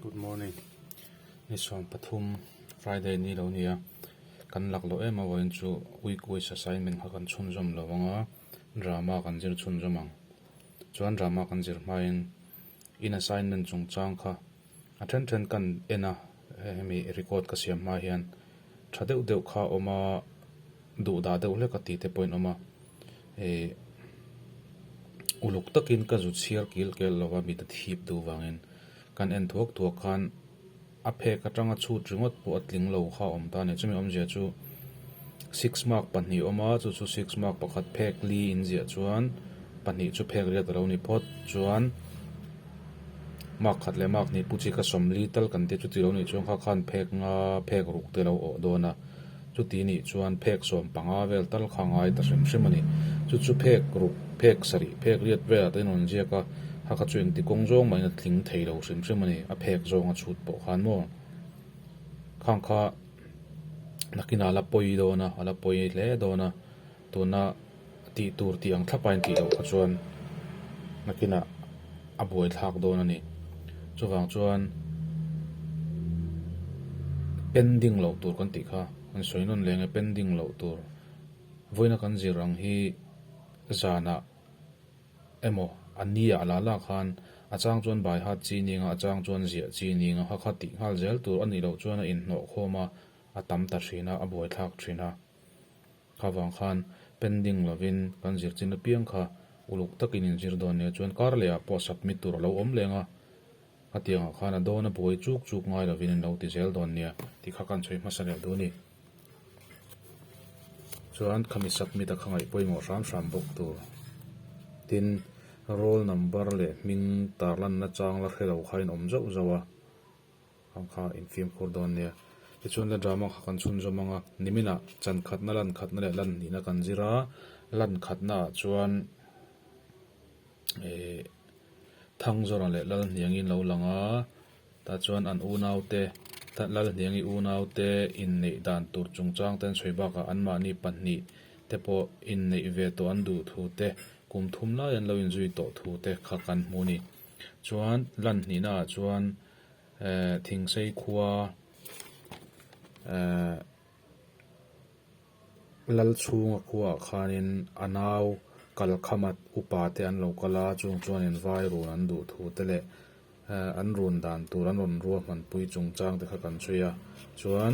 Good morning nisuam pathum Friday ni lo nia kan laklo em avawin chu week wise assignment kha kan chhunzawm lo anga drama kan zir chhunzawm ang chuan drama kan zir hmain in assignment chung chang kha a then then kan en a hemi record ka siam hma hian tha deuh deuh kha a awm a duhdah deuh hlek a tihte pawhin a awm a. Hei uluk takin ka zut chhiar kil kel lova mit a thip duh vangin kan en thuak thuak khan a phek atanga chhut ringawt pawh a tling lo kha a awm ta a ni. Chumi awmzia chu six mark pahnih a awm a, chu chu six mark pakhat phek li in ziah chuan pahnih chu phek riat a lo ni phawt. Chuan mark khat leh mark hnih pu chi ka sawm li tal kan tia chu ti lo nih chuang kha khan phek nga phek ruk te a lo awh dawn a. Chuti nih chuan phek sawm panga vel tal kha ngai ta hrim hrim a ni. Chu chu phek ruk, phek sarih, phek riat vel ah te in rawn ziak a, hakha chu engti kawng zawng mah in a tling thei lo hrim hrim a ni. A phek zawng a chhut pawh khan maw khang kha nakinah a la pawi dawn a, a la pawi hle dawn a. Tuna tih tur tih ang thlapa in tih loh kha chuan Nakinah a buaithlak dawn a ni. Chuvang chuan pen ding loh tur kan tih kha kan sawi nawn leng e, pen ding loh tur vawiina kan zir ang hi zanah emaw a nia a la lak khan a chang chuan baihat chi ning a, a chang chuan ziah chi ning a, hakha tih nghal zel tur a nih loh chuan a inhnawhkhawm a, a tam ta thin a, a buaithlak thin a. Kha vang khan pen ding lovin kan zirchin apiang kha uluk takin in zir dawn nia chuan kar leh ah pawh submit tur a lo awm leng a, hetiang ah khan a dawn a buai chuk chuk ngai lovin in lo ti zel dawn nia tih kha kan chhawi hmasa leh dun i. Chuan khami submit a kha ngaih pawimawh hram hram bawk tur tin roll number leh hming tarlanna chang la hrelo kha in awm zauh zauh a. Ang kha in fimkhur dawn nia. Tichuan la drama kha kan chhun zawm ang a, nimina chankhatna, lankhatna leh lan hnihna kan zir a, lankhatna ah chuan eh Thangzawrah leh Lalhniang in lo lang a, tah chuan an unau te, Lalhniang i unau te inneih dan tur chungchang ten sawi bak ah an mahni pahnih te pawh inneih ve tawh an duh thu te, kum thum lai an lo in zui tawh thu te kha kan hmu a ni. Chuan lan hnihna ah chuan Thingsei khua Lalchhunga khua ah khanin a nau Kalkhamat upa te an lo kal a, chung chuanin vai run an duh thu te leh an run dan tur an rawn rua hmanpui chung chang te kha kan sawi a. Chuan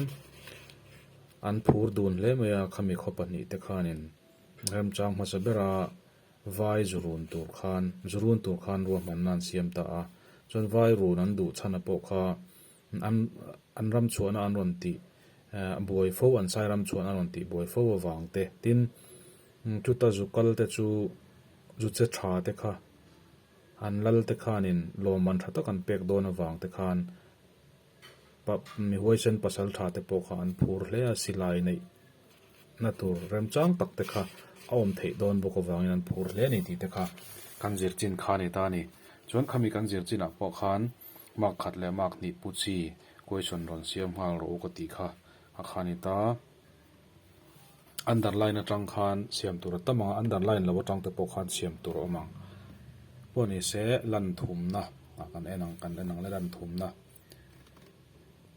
an phur dun hle mai a, khami khaw pahnih te khanin remchang hmasa bera Vai zu run tur khan, zu run tur khan ruahmanna an siam ta a, chuan vai run an duh chhana pawh kha an an ram chhuahna an rawn tih buai fo, an sairam chhuahna an rawn tih buai fo avang te. Tin, chuta zu kal te chu zu che tha te kha, an lal te khanin lawmman tha tak an pek dawn avang te khan pa mi huaisen pasal tha te pawh kha an phur hle a, silai neih na tur remchang tak te kha a awm theih dawn bawk avangin an phur hle a ni tih te kha kan zir chin kha a ni ta a ni. Chuan khami kan zir chin ah pawh khan mak khat leh mak hnih pu chi kuaisawn rawn siam nghal rawh u ka tih kha a kha a ni ta a. Underline atang khan siam tur a tam ang a, underline lo atang te pawh khan siam tur a awm ang. Pawh ni se, lanthumna ah kan en ang, kan en ang le lanthumna.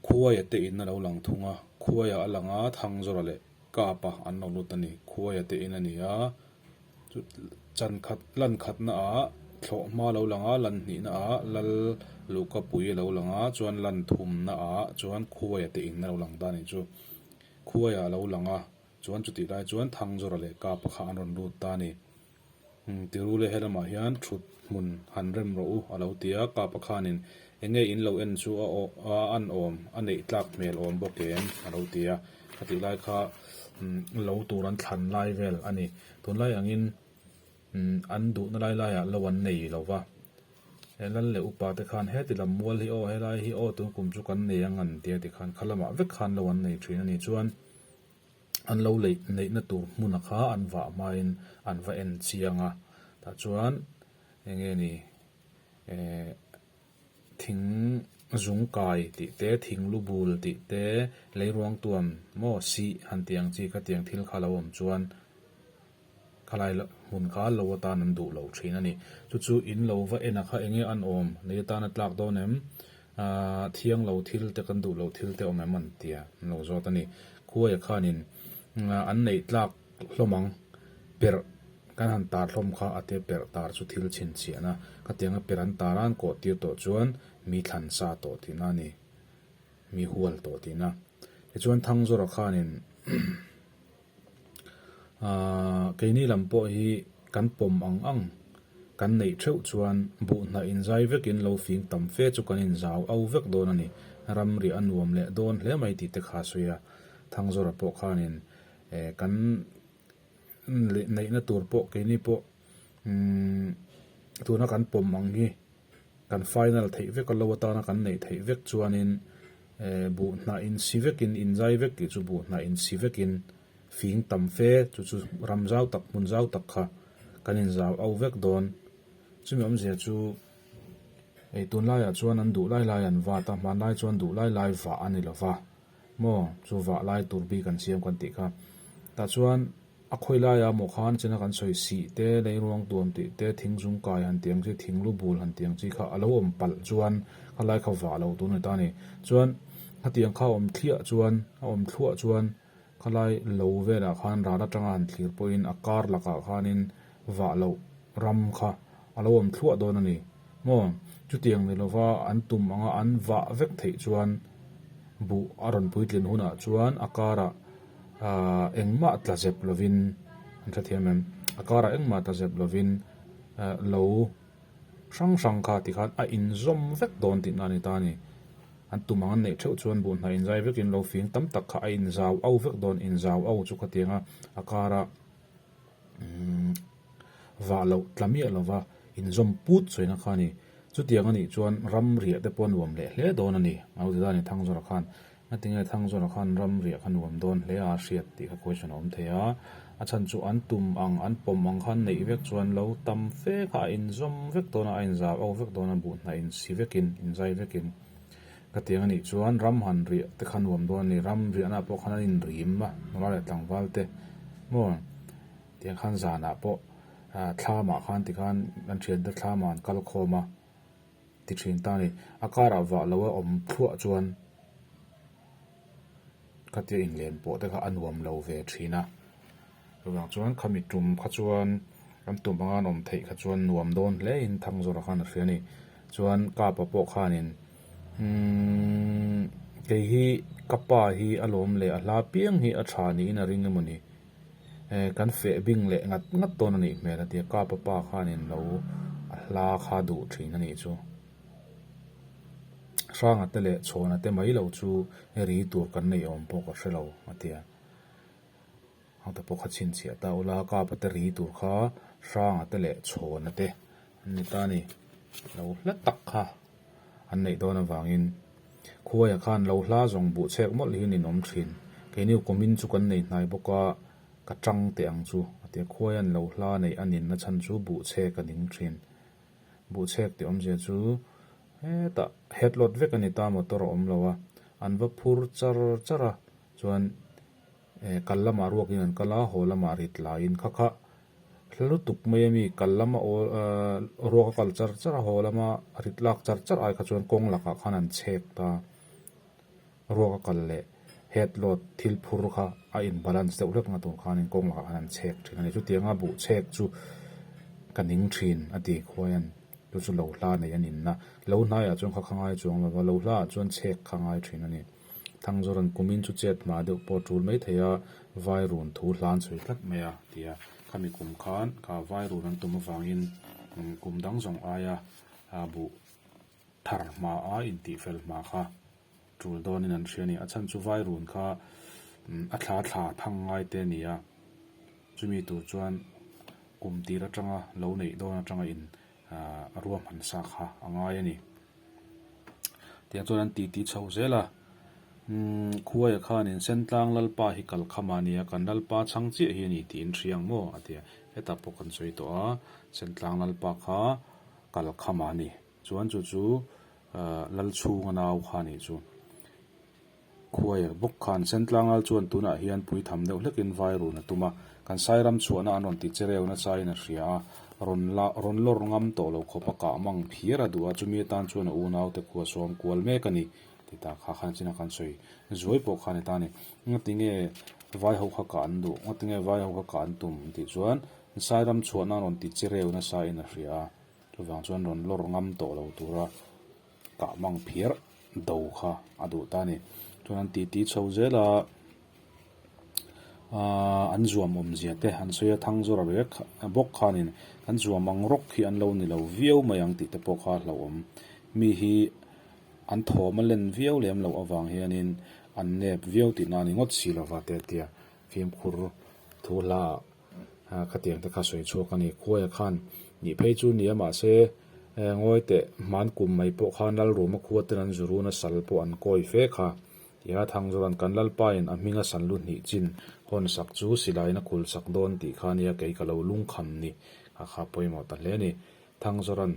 Khuaia te in a lo lang thung a, khuaia a lang a, Thangzawra leh Kapa an rawn lut a ni. Khuaia te in a ni a, chu chankhat, lankhatna ah thlawhma a lo lang a, lan hnihna ah lal luhkapui a lo lang a, chuan lanthumna ah chuan khuaia te in a lo lang ta a ni chu. Khuaia a lo lang a, chuan chutih lai chuan Thangzora leh Kapa kha an rawn lut ta a ni. Umm, Tirule helamah hian thut hmun han rem rawh u, a lo ti a, Kapa khanin enge in lo en chu a awm, a an awm, a neih tlak hmel awm bawk em? a lo ti a, a tih lai kha umm, lo tur an thlan lai vel a ni. Tunlai angin. An duhna lai laiah lo an nei lo va, he Lal leh Upa te khan heti lam mual hi aw, helai hi aw tun kum chu kan nei ang an tia ti khan kha lamah vek khan lo an nei thin a ni chuan an lo lei neihna tur hmuna kha an vah hmain an va en chiang a, tah chuan enge ni eeh Thing zung kai tih te, thing lu bul tih te, lei ruang tuam maw sih han tih ang chi ka tiang thil kha lo awm chuan khalai la hmun kal lo atan an duh loh thin a ni. Chu chu in lo va en a kha enge an awm, lei atan a tlak dawn em? Aaa thiang lo thil te kan duh loh thil te awm em an tia an lo zawt a ni. Khuaia khanin an neih tlak Hlawm ang, perh kan han tar hlawm kha a te perh tar chu thil chhin chiah na ka tiang a perh an tar an kawh tir tawh chuan mi thlan sa tawh tih na a ni, mi hual tawh tih na. Tichuan Thangzawra khanin aah keini lam pawh hi kan pawm ang ang, kan neih theuh chuan buh hnah in zai vekin lo fing tam fe chu kan inzau au vek dawn a ni, ramriah a nuam leh dawn hle mai tih te kha a sawi a, Thangzawra pawh khanin E kan neihna tur pawh keini pawh tuna kan pawm ang hi kan final theih vek lo atana kan neih theih vek chuanin e buh hnah in si vekin inzai vek tih chu buh hnah in si vekin fing tam fe chu chu ram zau tak hmun zau tak kha kan inzau au vek dawn chumi awmzia chu ei tunlaiah chuan an duh lai lai an vat a hmanlai chuan duh lai lai vah a ni lova. Maw chuvah lai tur bik an siam kan tih kha. Tah chuan a khawi laia maw khan china kan sawi sih te, lei ruang tuam tih te, thing zung kai han tih ang chi, thing lu bul han tih ang chi kha a lo awm palh chuan kha lai kha vah lo tur a ni ta ni. Chuan khatiang kha a awm thliah chuan, a awm thluah chuan kha lai lo velah khan ral atanga han thlir pawhin a kar lakah khanin, vah loh ram kha a lo awm thluah dawn a ni maw? Chutiang ni lova an tum anga an vah vek theih chuan buh a rawn puitlen hunah chuan a karah aah engmah tla zep lovin, an hrethiam em? a karah engmah tla zep lovin aah lo hrang hrang kha tikhan a inzawm vek dawn tihna a ni ta a ni. An tum ang an neih theuh chuan buh hnah inzai vekin lo fing tam tak kha a inzau au vek dawn, inzau au chu khatianga a karah. umm vah loh tla miah lova inzawm put sawi na kha a ni. Chutiang a nih chuan ram riah te pawh a nuam leh hle dawn a ni. Au ti dane thang zawrah khan a tinge thang zawrah khan ram riah kha nuam dawn hle a hriat tih kha question a awm thei a. A chhan chu an tum ang an pawm ang kha an neih vek chuan lo tam fek a a inzawm vek dawn a a inzau au vek dawn a buhna insi vekin inzai vekin. Ka tiang a nih chuan ram han riah te kha nuam dawn a ni. Ram riahnah pawh khan an inrim a, nula leh tlangval te maw tiang khan zanah pawh thla mah khan tikhan kan thiante thla mah an kal khawm a ti thin ta a ni. A karah vah loa awm thluah chuan. Khatia inlen pawh te kha a nuam lo ve thin a, chutah chuan khami tum kha chuan an tum anga an awm theih kha chuan nuam dawn hle in thang zawrh a khan a hria a ni. Chuan ka pa pawh khanin umm kei hi ka pa hi a lawm leh a hla piang hi a tha niin a ring emawni eh kan feh bing leh ngat ngat dawn a nih hmel a tia ka papa khanin lo a hla kha duh thin a nih chu. Hranga te leh chhawhna te mai lo chu i ri tur kan neih awm pawh ka hre lo, a ti a. Ang te pawh kha chhinchhiah ta ula kapa te ri tur kha hranga te leh chhawhna te an ni ta ni. Lo hla tak kha an neih dawn avangin khuaia khan lo hla zawng buh chhek mawlh hian in awm thin. Keini awmin chu kan nei hnai bawk a, ka tang teh ang chu, a ti a. Khuaia'n lo hla neih a ninna chhan chu buh chhek a ning thin. Buhchhek ti awmzia chu hetah het lawt vek a ni ta, motor a awm lo a, an va phur char char a, chuan eh kal lamah ruak in an kal a, haw lamah rit la in kha kha hla lutuk mai a mi kal lam a aw eh ruak a kal char char a, haw lama rit lak char char ai kha chuan kawng lakah khan an chhek ta. Ruak a kal leh head load thil phur kha a in balance deuh hlek na tur khanin kawng lakah khan an chhek thin a ni. Chutianga buh chhek chu ka ning thin a ti khuai a ni. Chu chu lo hla nei an inna. Lo hnaiah chuan kha kha ngai chuang lova, lo hlaah chuan chhek kha ngai thin a ni. Thangzawr an kumin chu chet hma deuh pawh a tul mai thei a, vai run thu hlan sawi tlat mai a ti a. Khami kum khan ka vai run an tum avangin kum dang zawng aia buh. Thar hma a intih fel hma kha tul dawnin an hria ni. A chhan chu vai run kha a thla thla thang ngai te ni a, chumi tur chuan kum tir atanga lo neih dawn atanga in a ruam han sa kha a ngai a ni. Tiang chuan an titi chho zel a, Umm, Khuaia khan in Sentlang Lalpa hi kal kha mah nia, kan Lalpa chhang chiah hi a ni tiin hria ang maw? a ti a. Hetah pawh kan sawi tawh a, Sentlang Lalpa kha. Kal kham a ni. Chuan chu chu lal chhung a nau kha nih chu khuair bawk khan Sentlangal chuan tunah hian pui tham deuh hlekin vai run a tum a, kan sairam chhuahna an rawn ti che reuhna chain a hria a, rawn la rawn lawr ngam tawh lo khawpa kah mang phiar a duh a, chumi atan chuan a unaute khua sawm kual mek a ni tih ta kha khan a chin a kan sawi zuai pawh khan heta a ni. Ngatinge vai ho kha kah an duh, ngatinge vai ho kha kah an tum tih chuan Nsairam chhuahna rawn ti che reu nasa in a hria a, chuvang chuan rawn lawr ngam tawh lo tura kah mang phiar do kha a duh ta a ni. Chuan an titi chho zel a, aaa an zuam awmzia te an sawi a, thang zawr a rek bawk khanin kan zuam ang rawk khi an lo ni lo viau mai ang tih te pawh kha hlauhawm mi hi an thawm a len viau lem loh avang hianin an nep viau tihna a ni ngawt si lova te a tia fimkhur thu hla ah. A khatiang te kha sawi chhuak a ni. Khuaia khan nih phei chu ni a mahse ngawi teh hman kum mai pawh khan Lalruama khua ten an zurun a sal pawh an kawi fek a. Tia Thangzura'n kan Lalpain a hminga san lu hnih chin hawn sak chu silaina khul sak dawn tih kha nia kei ka lo lungkham ni kha kha pawimawh ta hle a ni. Thangzaran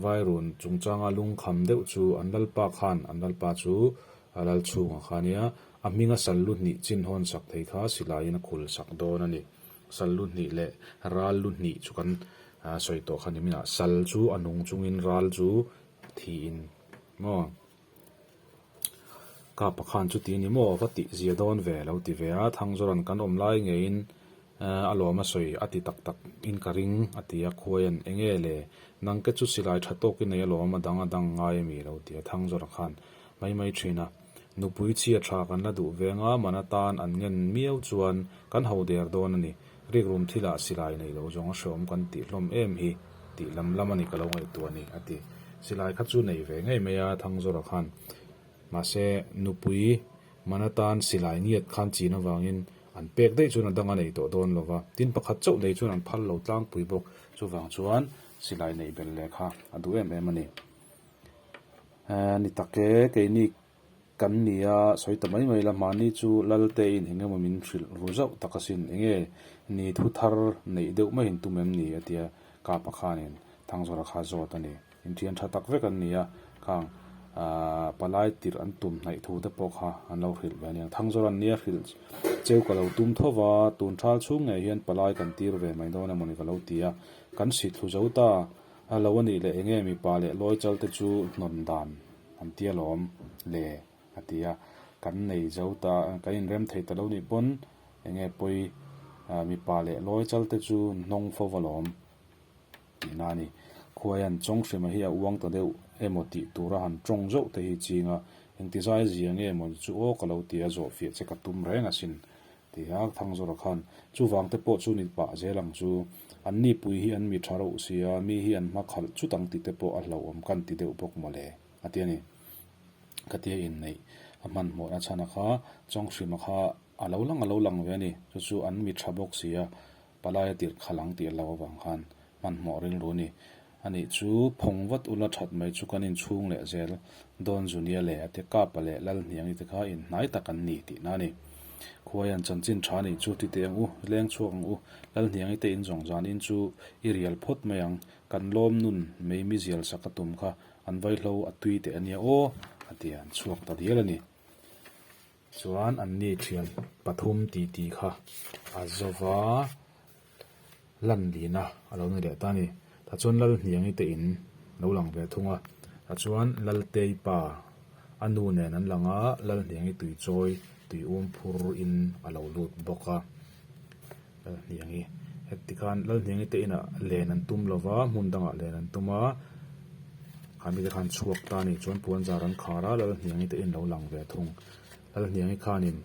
vai run chungchanga lungkham deuh chu an lalpa khan an lalpa chu a lal chhungah khania a hminga sallu hnih chinhawn sak thei kha silaiin a khul sak dawn a ni. Sallu hnih leh rallu hnih chu kan sawi tawh kha niminah sal chu a nung chungin ral chu thihin maw? Ka pa khan chuti ni maw va tih zia dawn ve alo ti ve a, Thangzawra'n kan awm lai ngeiin a lawm a sawi a ti tak tak in ka ring a ti a, Khuaia'n enge le nangke chu silai tha tawk i nei alawm a dang a dang ngai a mi lo ti a, Thangzawra khan mai mai thin a, Nupui chhia tha kan la duh veng a, man atan an ngen miau chuan kan ho der dawn a ni. Rikrum thilah silai neih loh zawng a hreawm kan tih hlawm em hi tih lam lam a ni ka lo ngaihtuah a ni, a ti. Silai kha chu nei ve ngei mai a Thangzora khan. Mahse, nupui man atan silai ngiat khan chin avangin an pek daih chuan a dang a nei tawh dawn lo va. Tin, pakhat chauh nei chuan an phal lo tlangpui bawk. Chuvang chuan silai neih bel leh kha a duh em em a ni. Ehh, ni tak e, keini Kan ni a, sawi ta mai mai la, mahni chu Lalte in engemaw min hrilh ru zauh tak asin, enge ni thu thar neih deuh mai in tum em ni? a tia Kapa khanin, Thangzawra kha zawt a ni, inṭhian ṭha tak vek an ni a, khang aah palai tirh an tum hnaih thu te pawh kha an lo hrilh ve aniang, Thangzawra nia hrilh cheu ka lo tum tho va, tun ṭhal chhung ngei hian palai kan tir ve mai dawn emaw ni ka lo ti a, kan sithlu zo ta lo a nih leh, enge mipa leh lawi chal te chu hnawn dan Kan ti alawm le a ti a. Kan nei zo ta, kan inrem thei ta lo nih pawn eng nge pawi mipa leh lawi chal te chu an hnawng fo alawm tih na a ni. Khuaian chawng hrima hi a uang ta deuh emaw tih tura han tawng zeuh te hi chinga engtizai zia nge emaw ni chu aw ka lo ti a zawhfiah che ka tum reng asin Tia Thangzora khan, Chuvang te pawh chu min pah zel ang chu. An ni pui hi an mi tha reuh u sia, mi hi an hma khalh chut ang tih te pawh a hlauhawm kan ti deuh bawk mawle, a ti a ni. Ka ti a inneih a hmanhmawh a chhan a kha, Chawnghrima kha a lo lang a lo lang ve a ni, chu chu an mi tha bawk sia, Palaia tirhkhalh ang tih a lo avang khan hmanhmawh rilru ni. A nih chu phawng vat ula that mai chu kan inchhung leh zel. Don Zunia leh ate Kapa leh Lalhniangi te kha inhnai tak an ni tih na a ni. Khuaian chanchin tha nih chu titeh ang u, leng chhuak ang u, Lalhniangi te in zawng zanin chu i rial phawt mai ang, kan lawm nun mai mizial sak a tum kha an vaihlo a tui teh a nia aw a ti a, an chhuak ta dial a ni. Chuan an ni thian pathum titi kha a zawva lan lina a lo ni leh ta a ni. Tah chuan Lalhniangi te in lo lang ve thung a, tah chuan Laltei pa a nu nen an lang a, Lalhniangi tui chawi tui um phur in a lo lut bawk a. Lalhniangi, Heti khan Lalhniangi te inah len an tum lo va, hmun dangah len an tum a, kha mite khan chhuak ta nih chuan puanzar an khar a, Lalhniangi te in lo lang ve thung. Lalhniangi khanin,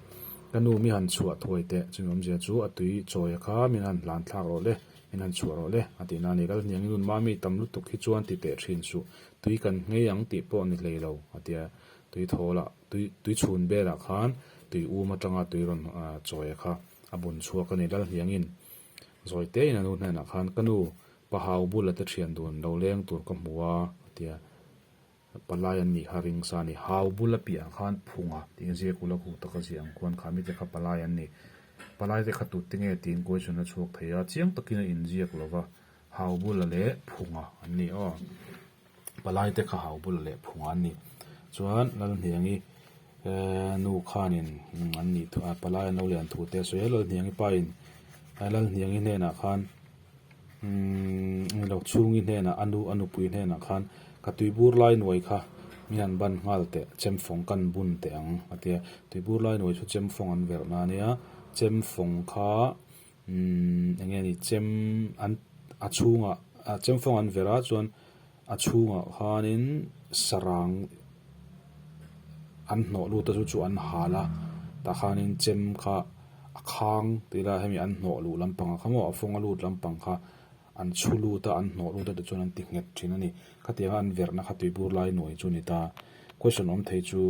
Ka nu mi han chhuah thuai teh, chumi awmzia chu a tui chawi a kha, min han hlan thlak rawh le, min han chhuah rawh le, a ti na ni. Lalhniangi nun mah mi tam lutuk hi chuan ti teh thin suh, tui kan ngei ang tih pawh ni hlei lo, a ti a, tui thawl ah, tui chhun vel ah khan tui um atanga tui rawn chawi a kha. A bun chhuak a nih lal hiangin zawitein a nu hnenah khan, Ka nu, pa hau bula te thian dun lo leng tur ka hmu a, a ti a. Palai an nih kha ring sa a ni. Hau bula piah ang khan phunga tiin ziak ula hu tak a ziah ang khuan kha mite kha palai an ni. Palaite kha tutte nge tiin Kawichan a chhuak thei a, chiang takin a inziak lo va. Hau bula leh phunga an ni aw. Palai te kha hau bula leh phunga an ni. Chuan Lalhniangi nu khanin an nih thu a, Palai an lo lian thu te a sawi a. Lalhniangi pain Lalhniangi hnenah khan englo chhungi hnenah a nu a nupui hnenah khan ka tuibur lai nuai kha min han ban nghal teh, chemfawng kan bun teh ang a ti a. Tuibur lai nuai chu chemfawng an verh na nia chemfawng kha Umm enge ni chem an a chhungah a chem fawng an ver a chuan a chhungah khanin sarang an hnawh lut a chu chu an hal a tah khanin chem kha a khang tih ila hemi an hnawh luh lampang kha maw a fawng a lut lampang kha An chhu lut a, an hnawh lut a ti chuan an ti nghet thin a ni. Khatianga an verhna kha tui bur lai nuai chu a ni ta. Question awm thei chu,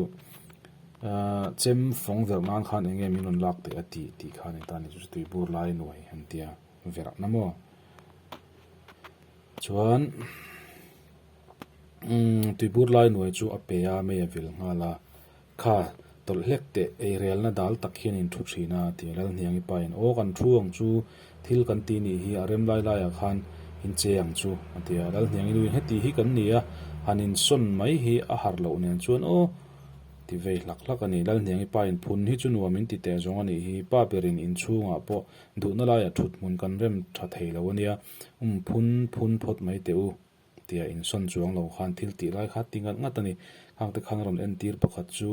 Aaa, chem fawng verh nan khan enge min rawn lak theih a tih, tih kha a ni ta a ni chu chu tui bur lai nuai an ti a, verhna maw? Chuan, Umm, tui bur lai nuai chu a pe a, mei a vil nghal a. Kha tawlh hlek teh, eirelna dal tak hian in thu thin a ti a Lalhniangi pa in. Aw kan thu ang chu, thil kan ti nih hi a rem lai lai ah khan in che ang chu a ti a Lalhniangi nu in heti hi kan ni a han in sawn mai hi a har loh nen chuan aw ti vei hlak hlak a ni Lalhniangi pa in. Phun hi chu nuam in ti teh zawng a nih hi, pa berin in chhung ah pawh duhna lai ah thuthmun kan rem tha thei lo a nia, um phun phun phawt mai teh u. tia insawn chuang lo khan thil tih lai kha ti ngat ngat a ni. Khangte khan a rawn entir pakhat chu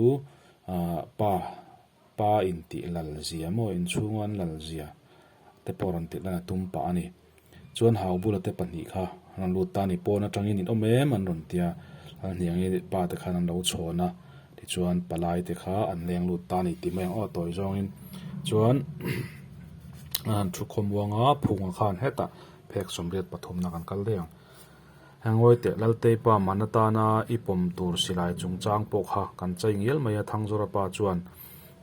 aah pa pa intih lalzia maw inchhung an lalzia te pawh rawn ti laiin a tum pah a ni. Chuan hau bula te pahnih kha an rawn lut ta a ni pawn atangin in awm em an rawn ti a, an hniangin pa te khan an lo chhawn a tichuan palai te kha an leng lut ta a ni tih mai ang aw tawi zawngin chuan an thu khawmuanga phunga khan hetah-- Phek sawmriat pathumna kan kal daih ang. Heng Ngawihteh Lalteipa man atana i pawm tur silai chungchang pawh kha kan chei ngial mai a, Thangzora pa chuan,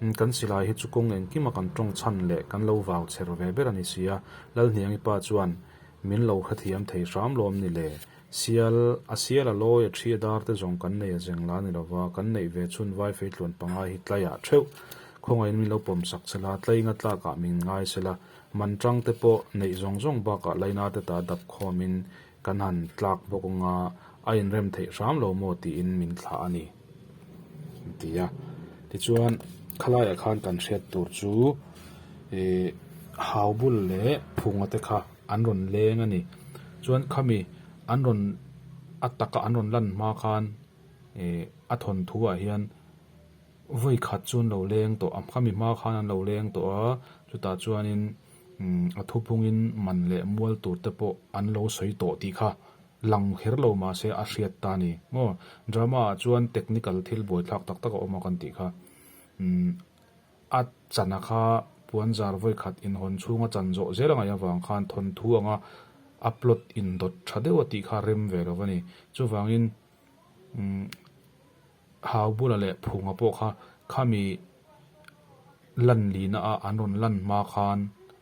Umm, kan silai hi chu kawng engkima kan tawngchhan leh kan lo vau chher ve ber a ni sia. Lalhniangi pa chuan, Min lo hrethiam thei hram lawm ni le, Sial, a sial a lawi, a ṭhi a dar te zawng kan nei a zeng la ni lo va, kan neih ve chhun vai fei tluan pangai hi tlaiah ṭheuh khawngaihin min lo pawm sak che la, tlai nga tlakah min ngai se la, Man tangte pawh neih zawng zawng bakah Lainate ta dap khawmin kan han tlak bawk anga a inrem theih hram lo maw tiin min thlah a ni, an ti a. Tichuan, khalaiah khan kan hriat tur chu ihh hau bul leh phunga te kha an rawn leng a ni. Chuan khami an rawn a taka an rawn lan hma khan ihh a thawnthuah hian Vawi khat chu an lo leng tawh a, khami hma khan an lo leng tawh a, chutah chuanin a thupungin man leh mual tur te pawh an lo sawi tawh tih kha lang her lo mahse a hriat ta a ni maw. Drama ah chuan technical thil buaithlak tak tak a awm a kan tih kha a chana kha puanzar vawi khat inhawn chhunga chan zawh zel a ngaih avang khan thawnthu anga a plot indawt tha deuh a tih kha a rem ve lo a ni. Chuvangin umm. Hau bula leh phunga pawh kha khami lan lina a an rawn lan hma khan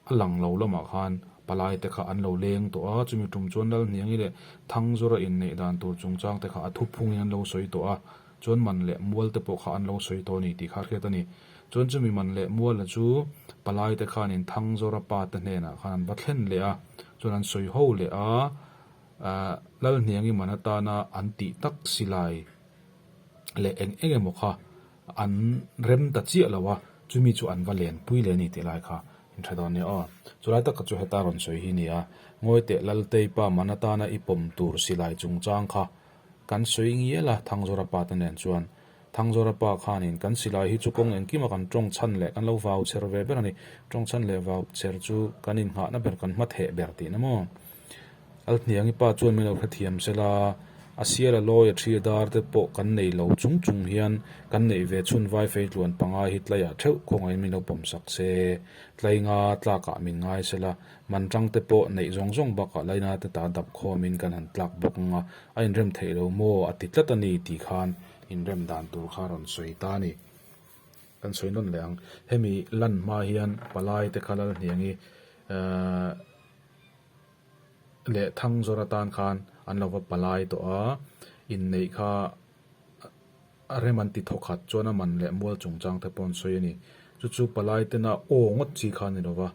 a lang lo lamah khan palai te kha an lo leng tawh a, chumi tum chuan Lalhniangi leh Thangzawra inneih dan tur chungchang te kha a thu phungin an lo sawi tawh a, chuan man leh mual te pawh kha an lo sawi tawh a ni tih kha a hriat a ni. Chuan chumi man leh muala chu palai te khanin Thangzawra pa te hnenah khan an va thlen leh a, chuan an sawi ho leh a, Lalhniangi man atana an tih tak si lai leh eng eng emaw kha an rem ta chiah lo a, chumi chu an va len pui leh a ni tih lai kha in hre dawn a nia aw. Chulai takah chu heta rawn sawi hi nia, Ngawiteh Lalteipa man atana i pawm tur silai chungchang kha kan sawi ngial a, Thangzorapata nen chuan Thangzorapa khanin kan silai hi chu kawng engkima kan tawng chhan leh kan lo vau chher ve ber a ni, tawng chhan leh vau chher chu kan inngahna ber kan hmatheh ber tihna maw? Alhniangi pa chuan min lo hrethiam sel a, a sia la lawi a thi a dar te pawh kan nei lo chung chung hian kan neih ve chhun vai fei tluan pangai hi tlaiah theuh khawngaiin min lo pawm sak se. Tlai nga tlakah min ngai sel a, man tang te pawh neih zawng zawng bakah Laina te ta dap khawmin kan han tlak bawk nga, a inrem theih lo maw a ti tlat a ni tih khan inrem dan tur kha rawn sawi ta a ni. Kan sawi nawn leh ang, hemi lan hma hian palai te kha Lalhniangi ehh. leh Thangzawr atan khan an lo va palai tawh a, inneih kha a rem an ti thawkhat chuan a man leh mual chungchang te pawh an sawi a ni. Chu chu palai tena aw ngawt chi kha a ni lo va,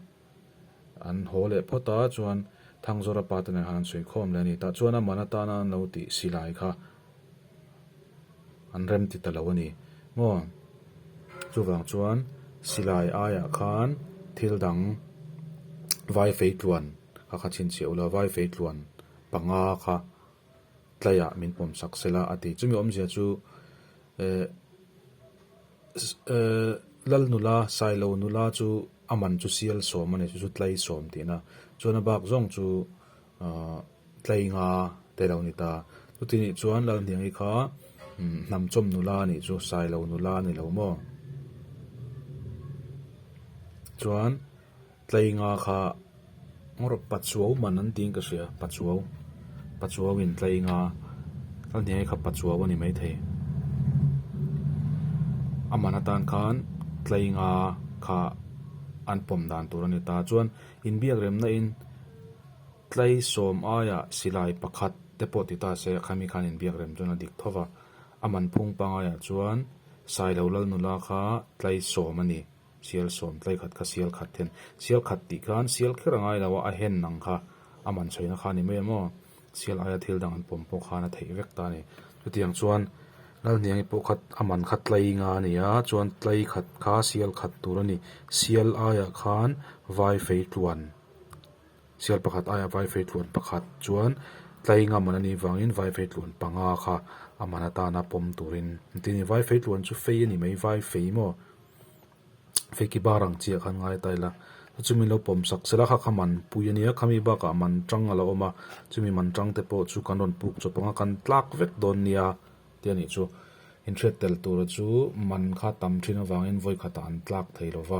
an haw leh phawt a, chuan Thangzawra pa te nen han an sawi khawm leh a ni. Tah chuan a man atana an lo tih silai kha. an rem ti ta lo a ni maw? Chuvang chuan silai aiah khan thil dang vai fei tluan ka kha chhin chhia ula, vai fei tluan panga kha tlaiah min pawm sak sela a ti. Chumi awmzia chu eh eh lal nula, sailo nula chu a man chu sial sawm a ni chu chu tlai sawm tihna. Chuan a bak zawng chu. Aah tlei nga te lo ni ta. Chuti nih chuan Lalhniangi kha hnamchawm nula nih chu sai lo nula a ni lo maw? Chuan tlei nga kha ngarawh pachuo man an tih ang ka hria, pachuo, pachuo in tlei nga. Lalhniangi kha pachuo a ni mai thei. A man atan khan tlei nga kha an pawm dan tur a ni ta. Chuan. Inbiak remna in tlai sawm aia silai pakhat te pawh ti ta se, khami khan inbiak rem chuan a dik tho va, a man phung pangai ah chuan sai lo lal nula kha tlai sawm a ni, sial sawm tlai khat kha sial khat hian sial khat tih khan sial kher a ngai lo a, a hen ang kha a man chhoina kha a ni mai a maw? Sial aia thil dang an pawm pawh khan a theih vek ta a ni. Chutiang chuan Lalhniangi pawh khat a man kha tlainga a ni a, chuan tlai khat kha sial khat tur a ni. Sial aiah khan vai feitluan, sial pakhat aiah vai feitluan pakhat chuan tlainga man a nih vangin vai feitluan panga kha a man atana pawm turin an ti a ni. Vai feitluan chu fei a ni mai, vai fei maw? Feki bar ang chi ah kha an ngai ta ila, chu chu min lo pawm sak sela kha kha man pui ania, khami bak ah man tang a lo awm a, chu mi man tang te pawh chu kan rawn puk chawp ang a, kan tlak vek dawn nia tia nih chu. In hriat tel tur a chu man kha tam thin avangin vawikhat ah an tlak thei lova,